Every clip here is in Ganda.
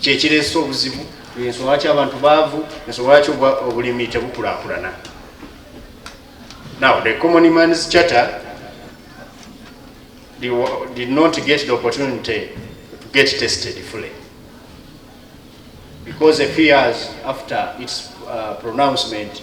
kyekireese obuzibu ensonga lwaki abantu baavu ensonga lwaki obulimi tebukulakulana now the common mans charter did not get the opportunity to get tested fully because a few years after its uh, pronouncement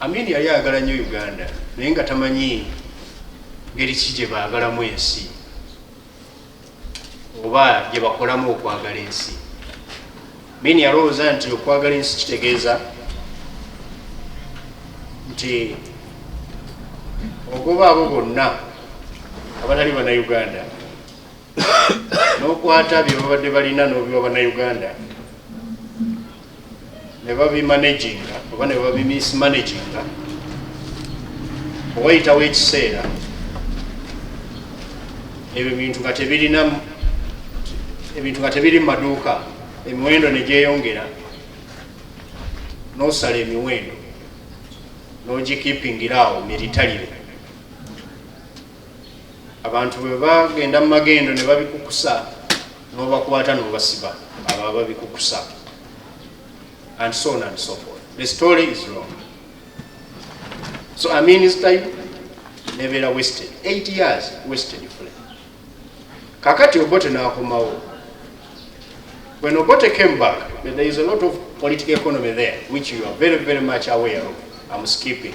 Amin yali ayagala nnyo Uganda naye nga tamanyi ngeri ki gye baagalamu ensi oba gye bakolamu okwagala ensi. Amin yalowooza nti okwagala ensi kitegeeza nti ogoba abo bonna abatali bana Uganda n'okwata bye babadde balina n'obiwa bannayuganda ne babimanaginga oba ne babimismanaginga owayitawo ekiseera ebyo bintu nga tebirina ebintu nga tebiri mu maduuka emiwendo ne gyeyongera n'osala emiwendo n'ogikipingira awo miritalire abantu bwe bagenda mu magendo ne babikukusa n'obakwata n'obasiba abo ababikukusa and so on and so forth the story is long so i mean his time nebeera wasted eight years wasted fule kakati obote n'akomawo when obote came back there is a lot of political economy there which you are very very much aware of am skipping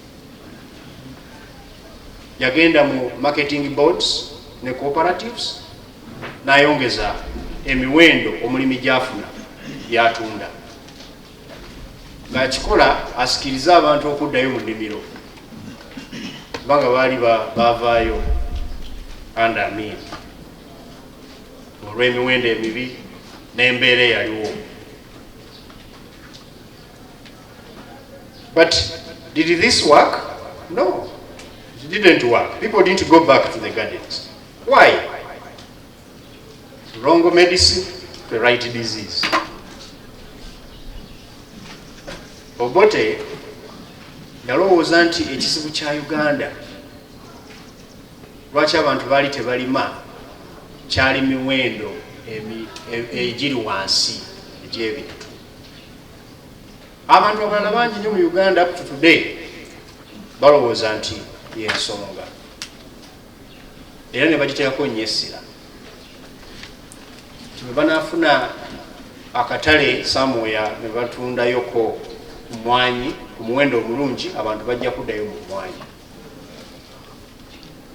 yagenda mu marketing boards ne cooperatives nayongeza emiwendo omulimi gyafuna byatunda ngakikola asikirize abantu okuddayo mu nnimiro kubanga baali bavaayo under min olw'emiwendo emibi n'embeera eyaliwo But did this work? No, it didn't work. People didn't go back to the gardens. Why? Wrong medicine, the right disease. Obote yalowooza nti ekizibu kya Uganda lwaki abantu baali tebalima kyali miwendo egiri wansi egy'ebintu abantu abalala bangi nyo mu uganda up to today balowooza nti yensonga era nebagiteekako nyo essira tiwebanafuna akatale samuya nebatundayoko mwanyi ku muwendo omulungi abantu bajja kuddayo mu mwanyi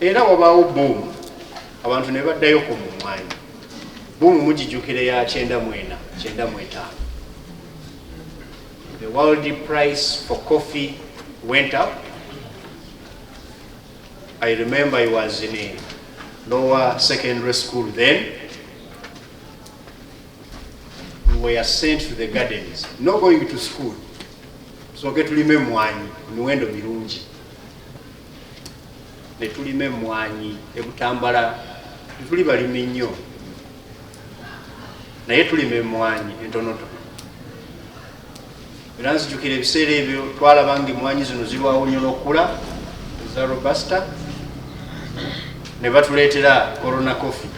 era wabaawo boomu abantu ne baddayo ku mumwanyi boomu mugijukire ya kyenda mwena kyenda mwetaano the world price for coffee went up i remember i was in a lower secondary school then we were sent to the gardens no going to school soke tulime mwanyi miwendo mirungi netulime mwanyi ebutambala tuli balimi nnyo naye tulime mwanyi entonoto era nzijukira ebiseera ebyo twalaba nga emmwanyi zino zirwawo nnyo n'okukula eza robusta ne batuleetera corona coffee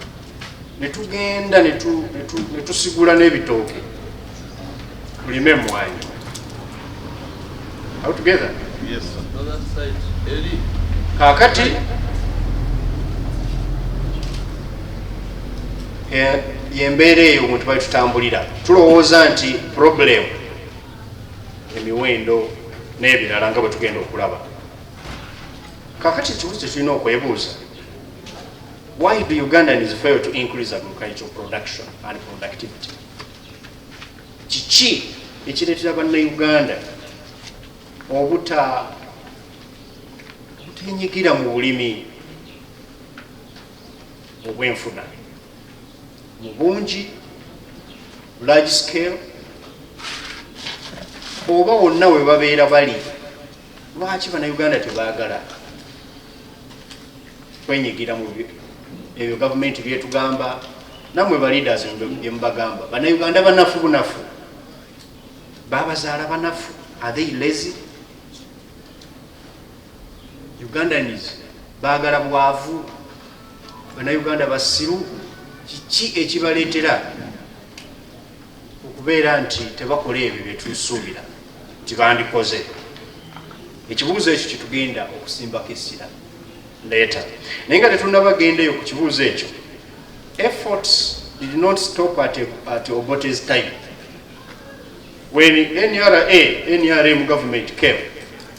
ne tugenda ne tusigula n'ebitooke tulime emmwanyi out together kaakati eh, yembeera eyo omuntu bali tutambulira Tulowooza nti purobulemu emiwendo n'ebirala nga bwe tugenda okulaba kakati ekibuzo kye tulina okwebuuza why do ugandans fail to increase agricultural production and productivity kiki ekireetera bannauganda obuta obutenyigira mu bulimi obwenfuna mu bungi large scale oba wonna we babeera bali lwaki banauganda tebagala kwenyigira mu ebyo gavumenti byetugamba namwe baleaders byemubagamba banauganda banafu bunafu babazaala banafu are they lazy Ugandans bagala bwavu, banauganda basiru, kiki ekibaletera okubeera nti tebakola ebyo byetusuubira nti bandikoze? Ekibuuzo ekyo kyetugenda okusimbako essira leeta, naye nga tetunabagendeyo ku kibuuzo ekyo. Efforts did not stop at, at Obote's time when NRA, NRM government came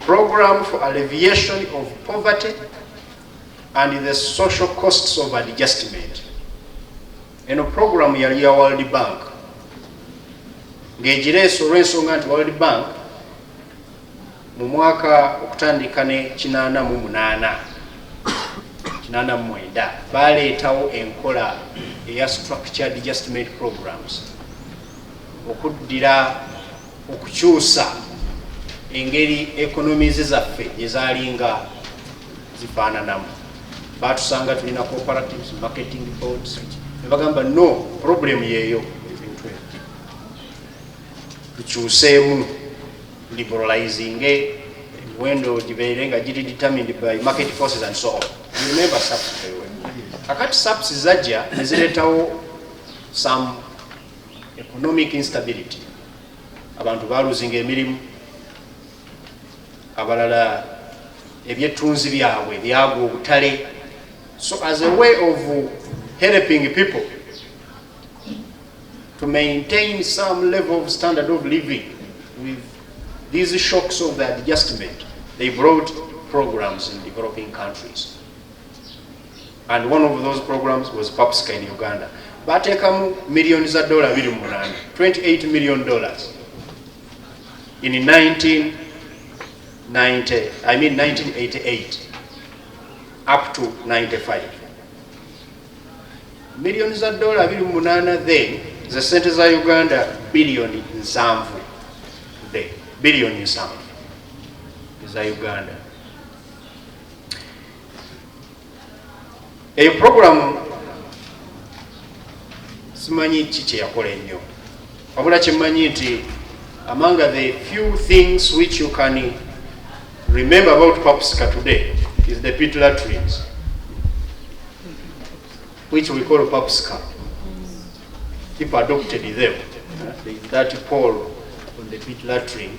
Program for alleviation of poverty and the social costs of adjustment. Eno program yali ya World Bank ng'egireese olw'ensonga nti World Bank mu mwaka okutandika ne kinaana mu munaana kinaana mu mwenda baleetawo enkola eya structured adjustment programs okuddira okukyusa engeri ekonomizi zaffe gyezalinga zifaananamu batusanga tulina cooperatives marketing boards nebagamba no problem yeeyo tukyuseemu liberalizinge emiwendo gibeere nga giri determined by market forces and so on remember saps kakati saps zajja nezireetawo some economic instability abantu baluzinga emirimu abalala ebyettunzi byabwe byagwa obutale so as a way of helping people to maintain some level of standard of living with these shocks of the adjustment they brought programs in developing countries and one of those programs was PAPSCA in Uganda batekamu million za dollar biri mu munana 28 million dollars in 1990 I mean 1988 up to 95 million za dollar biri mu munana then za sente za Uganda billion nsanvu the billion nsanvu za Uganda eyo puroguramu simanyi ki kyeyakola ennyo wabula kyemmanyi nti among the few things which you can remember about papsika today is the pit latrines which we call papsika people adopted them uh, that pole on the pit latrine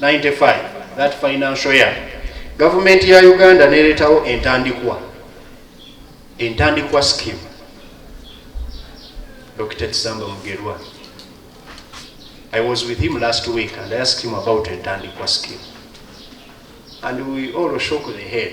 95 that financial year gavumenti ya uganda nereetawo entandikwa entandikwa skim dr kisamba mugerwa i was with him last week and i asked him about entandikwa skim and we all shook the head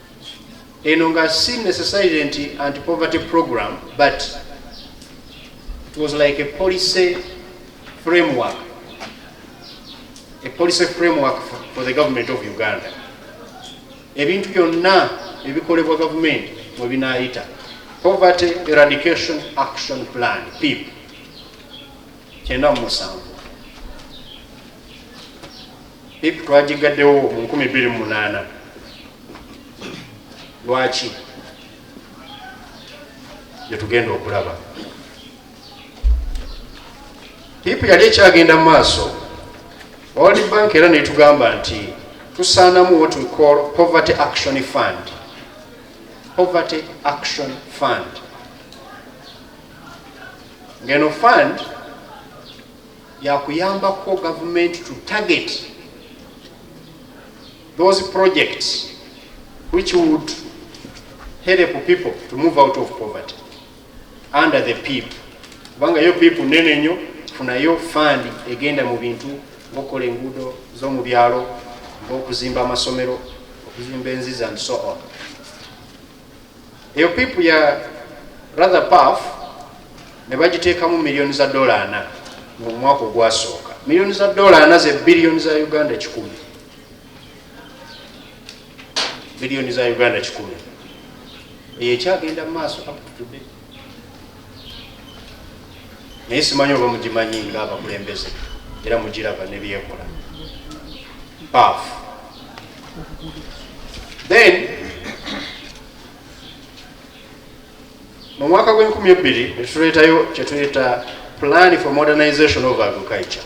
eno nga si necessarily nti anti poverty program but it was like a policy framework a policy framework for, for the government of uganda ebintu byonna ebikolebwa gavumenti mwe binaayita poverty eradication action plan pip kyenda mu musanvu Pip twagiggaddewo mu nkumi bbiri mu munaana. Lwaki? Gye tugenda okulaba. Pip yali ekyagenda mu maaso, World Bank era netugamba nti tusaanamu what we call poverty action fund. Poverty action fund. Ngeno fund yakuyambako government to target those projects which would help people to move out of poverty under the pip kubanga yo pip nene nyo funayo fund egenda mu bintu ngokola enguudo zomu byalo ngaokuzimba amasomero okuzimba enzizi and so on Eyo pipu ya Rather Puff ne bagiteekamu miliyoni za ddoola ana mu mwaka ogwasooka. Miliyoni za ddoola ana ze biliyoni za Uganda kikumi. Biliyoni za Uganda kikumi. Eyo ekyagenda mu maaso up to today. naye simanyi oba mugimanyi nga abakulembeze era mugiraba nebyekola paf then mu mwaka gw'enkumi ebbiri netuleetayo kyetuyita plan for modernization of agriculture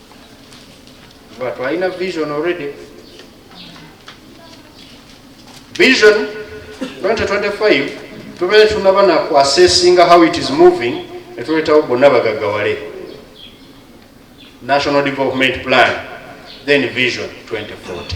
kuba twalina vision already vision 2025 tubeere tunaba naku assessinga how it is moving netuleetawo bonna bagagawale national development plan then vision 2040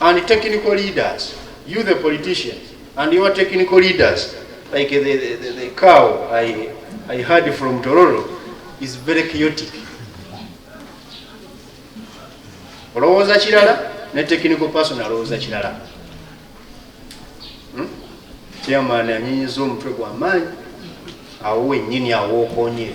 and technical leaders you the politicians and your technical leaders like the, the, the, the cow I, I heard from Tororo is very chaotic olowooza kirala ne technical person alowooza kirala hmm? chairman anyinyiza omutwe gwamaanyi awo wenyini awookonyere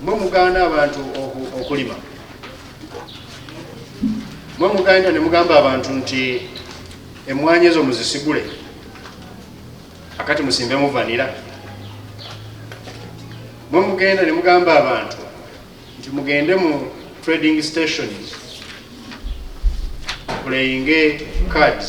mwe mugaana abantu okulima mwe muganda ne mugamba abantu nti emmwanyi ezo muzisigule akati musimbe muvanira mwe mugenda ne mugamba abantu nti mugende mu trading stations playinge cards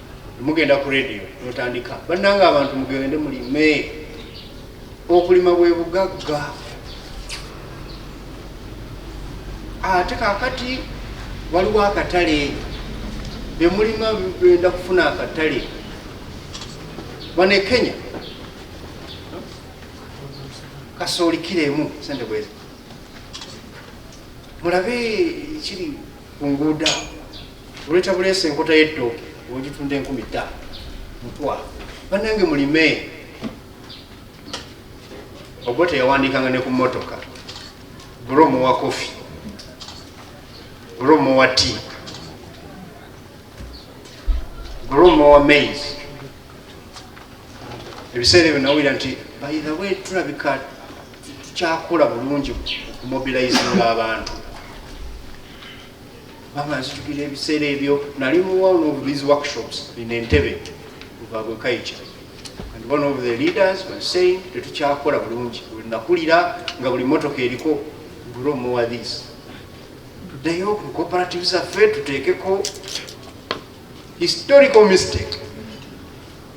mugenda ku radio mutandika bannanga abantu mugende mulime okulima bwe bugagga ate kakati waliwo akatale byemulima benda kufuna akatale bane kenya kasooli kiro emu sente bwezi mulabe kiri ku nguudo awo oleeta buleesa enkota y'ettooke ogitunda enkumi ttaano mutwa bannange mulime ogwo teyawandiikanga ne ku mmotoka bro muwa kofi bro muwa ti bro muwa maize ebiseera ebyo nawulira nti by the way tulabika tukyakola bulungi okumobilizinga abantu baba nzitukira ebiseera ebyo nali muwa one of these workshops in entebe lubabwe kaica and one of the leaders was saying tetukyakola bulungi nakulira nga buli motoka eriko grow more this tuddeyo ku cooperative zaffe tuteekeko historical mistake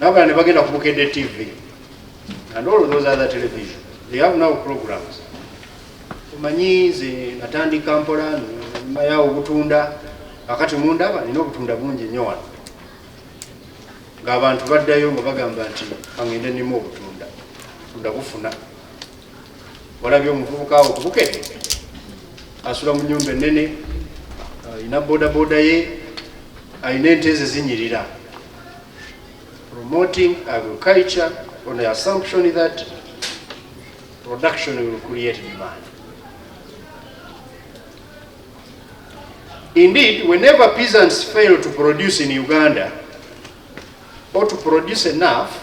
nabala ne bagenda ku Bukedde TV and all those other television they have now programs omanyi nze natandika mpola nyuma yawo obutunda akati mundaba nina obutunda bungi nnyo wano ng'abantu baddayo nga bagamba nti angende nimu obutunda tunda bufuna walabye omuvubuka awo kubukedde asula mu nyumba enene alina bodaboda ye alina ente ze zinyirira promoting agriculture on the assumption that production will create demand Indeed, whenever peasants fail to produce in Uganda or to produce enough,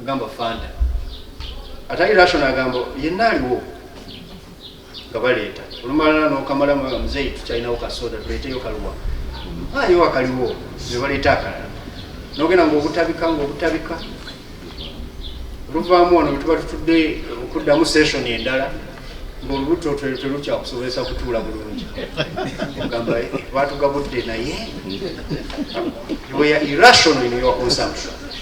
agamba fanta atali rational agamba yenna aliwo nga baleeta olumalala nokamala nga muzeeyi tukyalinawo kasoda tuleeteyo kaluwa ayo akaliwo ne baleeta akalala nogenda ngaobutabika ngaobutabika oluvaamu wano wetuba tutudde okuddamu session endala ngaolubuto telukyakusobozesa kutuula bulungi ogamba eh, batugabudde naye irrational in your consumption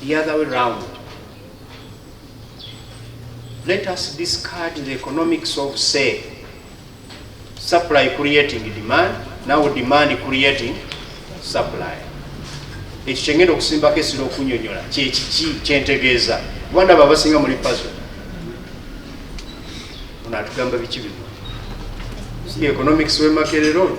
the other way round. Let us discard the economics of say supply creating demand, now demand creating supply. Ekyo kyengenda okusimbako esira okunyonyola kyekiki kyentegeeza kuba ndaba abasinga muli pazo ono atugamba biki bino si economics wemakerero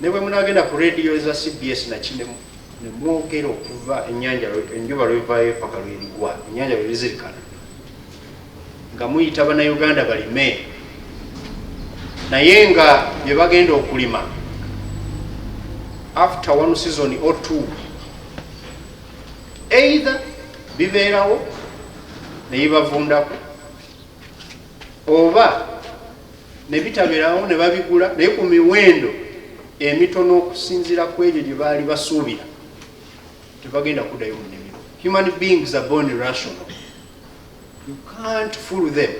Ne bwe munaagenda ku leediyo eza cbs na Kinemu ne mwogera okuva ennyanja enjuba lw'evaayo ppaka lw'erigwa ennyanja lwe lizirikana nga muyita Bannayuganda balime naye nga bye bagenda okulima after one season or two either bibeerawo ne bibavundako oba ne bitabeerawo ne babigula naye ku miwendo emitono okusinziira ku ebyo gye baali basuubira tebagenda kuddayo mu nnimiro human beings are born rational you can't fool them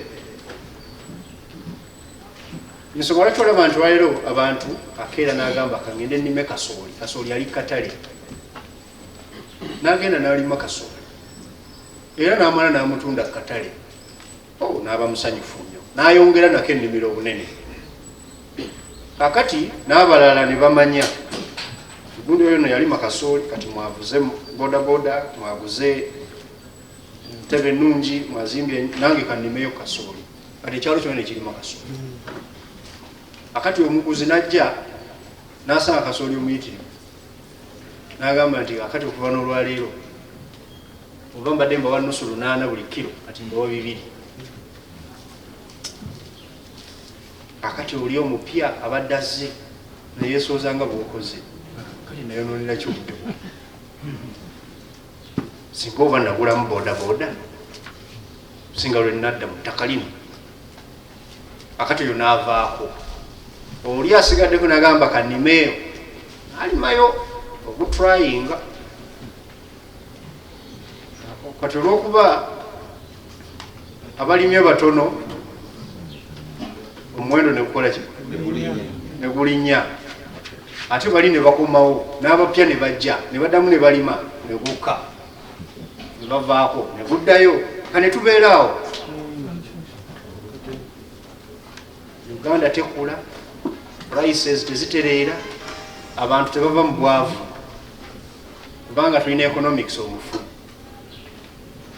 nsonga lwaki olaba nti waleero abantu akeera n'agamba kangende nnime kasooli kasooli ali katale n'agenda n'alima kasooli era n'amala n'amutunda katale oh, n'aba musanyufu nnyo n'ayongera nako ennimiro obunene kakati n'abalala ne bamanya gundi oyo no yalima kasooli kati mwavuze bodaboda mwaguze ntebe ennungi mwazimbye nange kannimeyo kasooli kati ekyalo kyona nekirima kasooli akati omuguzi najja n'asanga kasooli omuyitirivu n'agamba nti akati okuva n'olwaleero oba mbadde mbawa nusu lunaana buli kiro kati mbawa bibiri akati oli omupya abadde azze neyesooza nga bwokoze kati nayononera kyobudde singa oba nagulamu bodaboda singa lwenadda mu ttaka lino akati oyo naavaako oli asigaddeko nagamba kanimeeyo alimayo ogutryinga kati olwokuba abalimye batono omuwendo nekukola ki negulinya ate bali nebakomawo n'abapya ne bajja ne baddamu ne balima ne gukka ne bavaako ne guddayo ka ne tubeeraawo uganda tekula prices tezitereera abantu tebava mu bwavu kubanga tulina economics omufu